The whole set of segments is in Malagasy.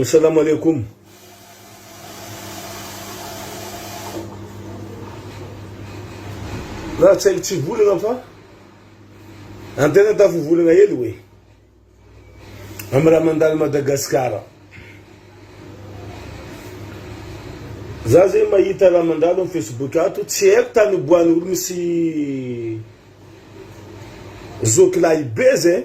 Salamo Aleikoum. Raha tsy haiko tsy volana fa antena tafo volana hely hoe amin'ny raha mandalo Madagasikara. Za zay mahita raha mandalo amin'ny Facebook ato, tsy haiko tany oboany olo misy zokilahy be zay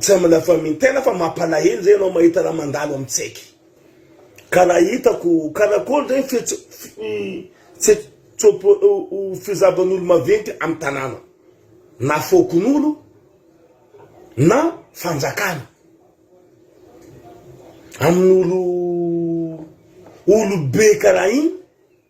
Tsy amina famintena fa mampalahelo zay ianao mahita raha mandalo amin'ny tsaiky. Ka raha hitako karakôry zay ny fihetsi-tsopo-fizaban'olo maventy amin'ny tanàna na fokonolona na fanjakana amin'olo olo be karaha igny.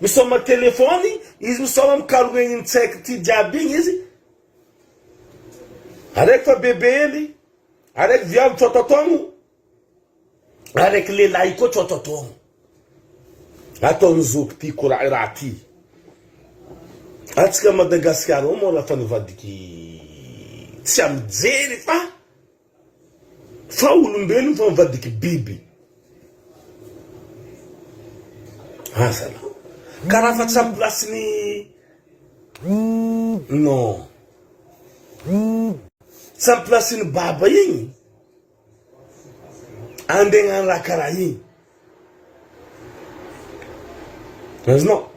Misaoma téléphone izy misaoma mikaroha igny tsaiky ty jiaby igny izy araiky fa bebe hely araiky viavy tsototogno araiky lelahy koa tsototogno ataony zoky ty kora raha ty atsika Madagasikara ao moa raha fa nivadiky tsy amijery fa Fa olombelona fa mivadiky biby. Aza lah. Karaha fa tsy am place ny non. Tsy am place ny baba igny. Andeha agnano raha karaha igny. Azonao.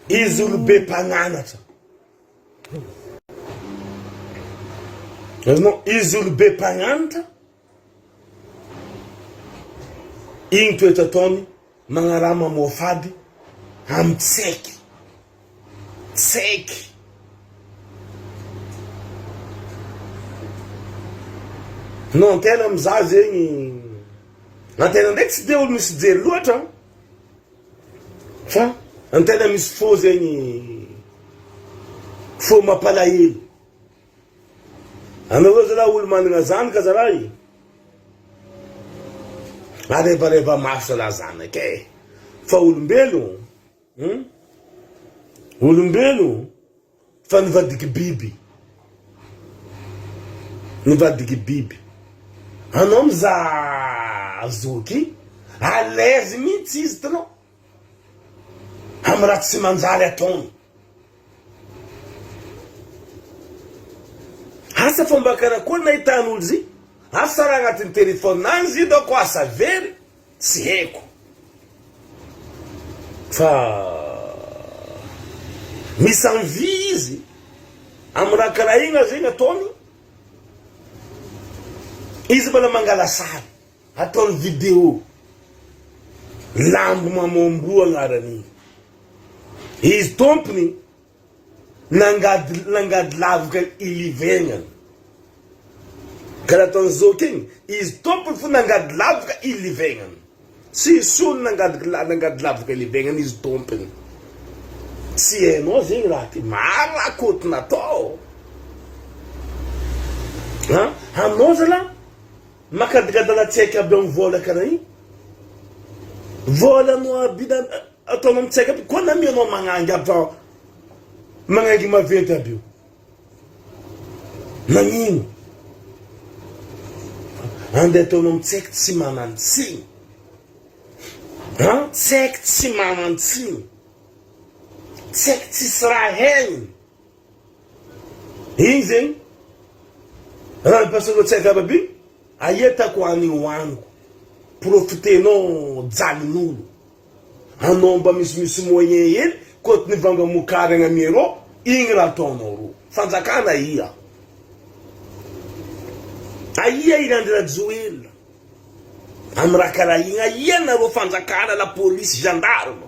Izy olo be mpagnanatra. Hitanao, izy io no be mpahantra, iny toetra ataony magnaraha mamoafady amin'ny tsy haiky, tsy haiky. No an-tena mizaha zegny, na tena ndraiky tsy dia olo misy jery loatra an! Fa ny tena misy fo zegny fo mampalahelo. Anareo zalahy olo managna zanaka zalahy e! Arebareba maso zalahy zanaka e! Fa olombelogno hum olombelogno. Fa nivadiky biby. Nivadiky biby. Anao mizaha zoky, à l'aise mihitsy izy tnao am raha tsy manjary ataony. Asa fa mba karakory nahitan'olo zy, asa raha agnatin'ny téléphone any zy doko asa very. Tsy haiko fa mis en vie izy am raha karaha igny zay nataony izy mbola mangala sary ataony video lambo mamambo agnaranigny izy tompony Nangady nangady lavitra i Livengan. Karaha ataon'i Zoky igny, izy tompony fo nangady lavitra i Livengan. Tsy sony nangady nangady lavitra i Livengan izy tompony. Tsy hainao zegny raha ty, maro raha koto natao ô. Ha, anao zalahy makadigadana tsy haiko aby amin'ny vola karaha igny. Volanao aby da. Atao anao mitsaika aby koa na mianao magnangy aby fa magnangy maventy aby io. Nagnino? Andeha atao anao mitsaika tsy manan-tsiny. Ha? Tsaiky tsy manan-tsiny. Tsaiky tsisy raha hainy. Igny zegny raha ampiasainao tsy ankamabe igny aia tako any hoaniko profitenao jalin'olo anao mba misimisy moyen hely koto nivanga mokary agny am Europe igny raha ataonao ro fanjakana aia aia i Andry Rajoelina am raha karaha igny aia nareo fanjakana lapolisy gendarme.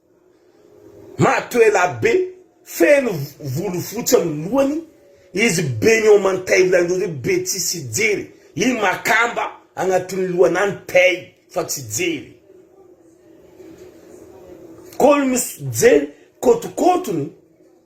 Mato elabe, feno volo fotsy amin'ny lohany, izy be ny ao mantaivla indrindra hoe be tsisy hijery, iny makamba agnatin'ny lohany any pay fa tsy jery. Koa ny mijery kôtokôtony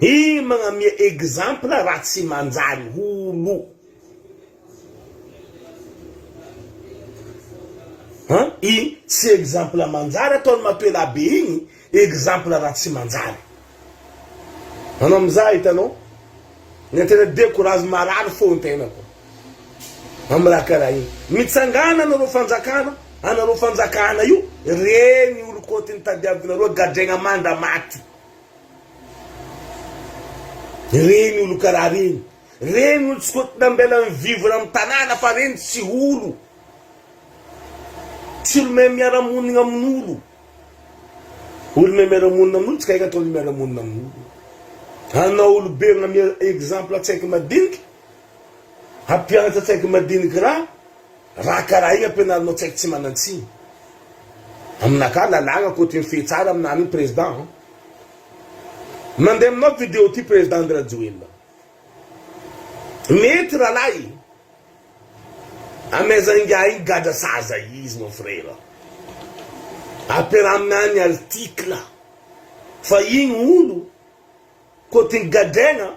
Iry magnamia exemple raha tsy manjary olo. An iny tsy exemple manjary ataony matoela be iny exemple raha tsy manjary. Anao mizaha hitanao. Ny internet be courage marary fo ny tenako. amin'ny raha karaha iny. Mitsangàna anareo fanjakana, anareo fanjakana io, re ny olon-kôty ny tadiavinareo gadraigna manda maty. Re ny olo karaha reny, re ny olo tsy kôty nambela ny vivre amin'ny tanàna fa reny tsy olo, tsy olo mahay miara-monigna amin'olo. Olo mahay miara-monina amin'olo tsy kay ataony miara-monina amin'olo. Anao olobe mamehy exemple tsy haiko madiniky. Hampianatra tsaiky madinika ra raha karaha igny ampianarinao tsaiky tsy manantsiny. Aminakahy lalàgna ankoatry ny fehy tsara aminany igny président an. Mandeha aminao video ty président Andirajoelina. Mety ralahy e. Amaiza ingahy igny gadra saza izy mon frère. Ampiaraha aminany article fa igny olo côté ny gadraigna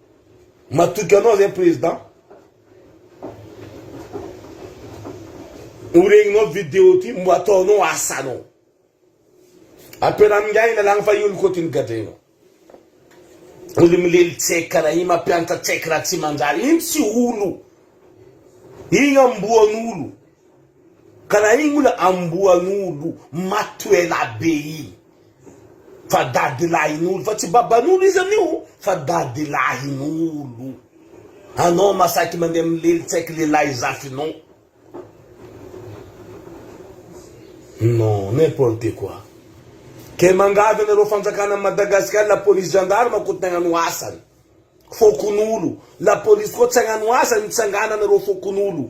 Matoky anao zay président. Horegninao video ty mbo ataonao asanao. Apela amin'ingahy lalagna fa io ny côté ny gadrainao. Olo milely check karaha igny mampiantra check raha tsy manjary igny tsy olo. Igny amboan'olo. Ka raha iny moa ilay amboan'olo maty ho ela be iny fa dadilahin'olo fa tsy baban'olo izy amin'io fa dadilahin'olo. Anao ma saiky mandeha milely tsaiky lehilahy zafinao. Non, n'importe quoi. Kay mangadra anareo fanjakana am Madagascar la police gendarme akory tsy nagnano asany. Fokonolo. La police koa tsy agnano asany mitsangana anareo fokonolo.